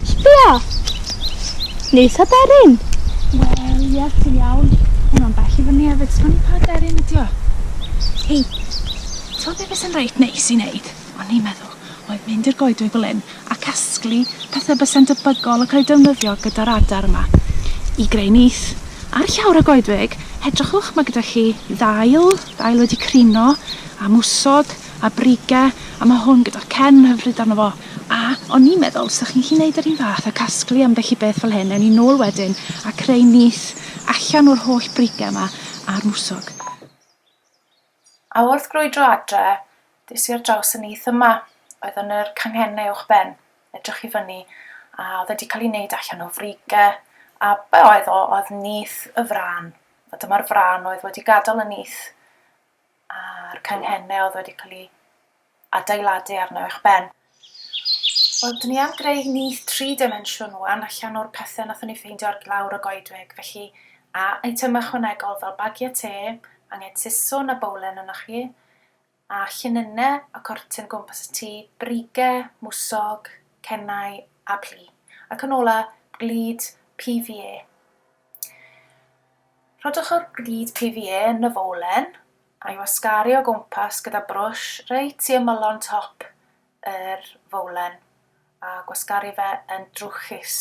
Sbia! Neis aderyn! Wel, ie, ti'n iawn. Hwn o'n bell i fyny hefyd, sbon i pa aderyn ydi o. Hei, ti'n be beth sy'n reit neis i wneud? O'n i'n meddwl. oedd mynd i'r goedwig fel hyn a casglu pethe byse'n debygol o cael eu defnyddio gyda'r adar yma i greu nyth. Ar llawr y goedwig, edrychwch, mae gyda chi ddail, ddail wedi crino, a mwsog, a brige, a mae hwn gyda cen hyfryd arno fo. A o'n i'n meddwl, sa chi'n gallu neud yr un fath a casglu ambell i beth fel hyn, ewn ni nôl wedyn a creu nyth allan o'r holl brige yma a'r mwsog. A wrth grwydro adre, des i ar draws y nyth yma, oedd yn yr canghenne uwch ben. Edrych i fyny, a oedd wedi cael ei wneud allan o frige, a be oedd o, oedd nyth y frân. A dyma'r frân oedd wedi gadael y nyth a'r canghenne oedd wedi cael ei adeiladu arno i'ch ben. Wel, dyn ni am greu nyth tri dimensiwn wan allan o'r pethe nathon ni ffeindio ar lawr y goedwig, felly a eitem ychwanegol fel bagiau te, anged siswrn a bowlen ynoch chi, a llinyne a cortyn gwmpas y tŷ, brige, mwsog, cennau a plu. Ac yn ola, glud PVA. Rhodwch yr glud PVA yn y fowlen a'i wasgaru o gwmpas gyda brwsh reit i ymylon top yr fowlen a gwasgaru fe yn drwchus.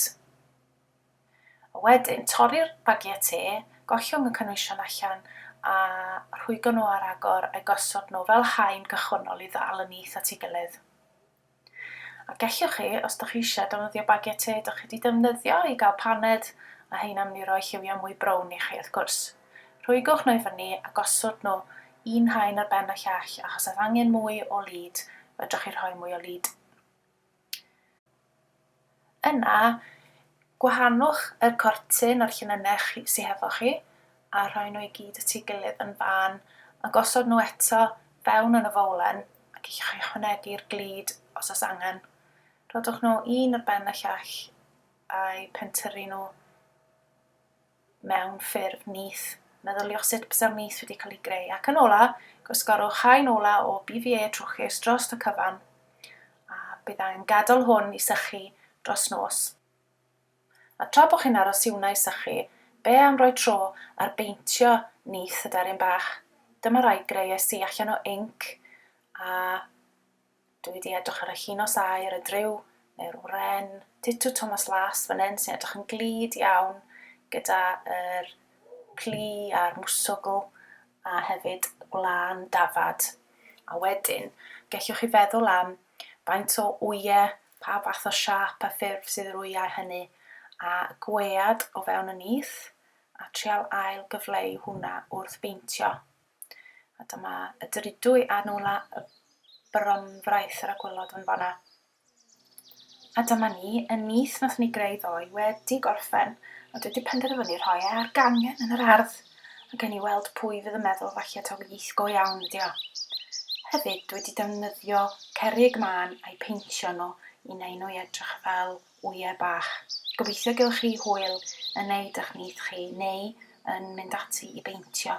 A wedyn, torri'r bagiau te, gollwng y cynwysion allan a rhwygo nhw ar agor a'u gosod nhw fel haen cychwynnol i ddal y nyth at ei gilydd. A gellwch chi, os dych chi eisiau, defnyddio bagiau te dych chi 'di defnyddio i gael paned, a heina mynd i roi lliwiau mwy brown i chi, wrth gwrs. Rhwygwch nhw i fyny a gosod nhw un haen ar ben y llall, achos os angen mwy o lid, fedrwch chi rhoi mwy o lid. Yna, gwahanwch yr cortyn a'r llinynnau chi, sy hefo chi, a rhoi nhw i gyd at ei gilydd yn fân, a gosod nhw eto fewn yn y fowlen, ac i chi ychwanegu'r glud os oes angen. Rhodwch nhw un ar ben y llall, a'u pentyrru nhw mewn ffurf nyth, meddyliosit bysau'r nyth wedi cael ei greu, ac yn ola, gwasgarwch haen ola o BVA trwchus dros y cyfan, a bydd angen gadael hwn i sychu dros nos. A tra bod chi'n aros i hwnna i sychu, be am roi tro ar beintio nyth y deryn bach? Dyma rai greuais i allan o inc a Dw i 'di edrych ar y llinos aur, y dryw neu'r wren. Ditw Thomas Las fan hyn sy'n edrych yn glyd iawn gyda yr plu a'r mwswgl a hefyd gwlân dafad. A wedyn, gellwch chi feddwl am faint o wyau, pa fath o siâp a ffurf sydd yr wyau hynny, a gwead o fewn y nyth, a trial ail gyfleu hwnna wrth beintio. A dyma y dridwy a nôla y bromfraith yr a gwylod yn fanna. A dyma ni, y nyth nath ni greu ddoe, wedi gorffen, a dwi wedi penderfynu rhoi e ar gangen yn yr ardd, a gen i weld pwy fydd yn meddwl falle taw nyth go iawn ydi o. Hefyd, dwi wedi defnyddio cerig mân a'i peintio nhw i neu nhw i edrych fel wyau bach. Gobeithio gewch chi hwyl yn neud ych nyth chi neu yn mynd ati i beintio.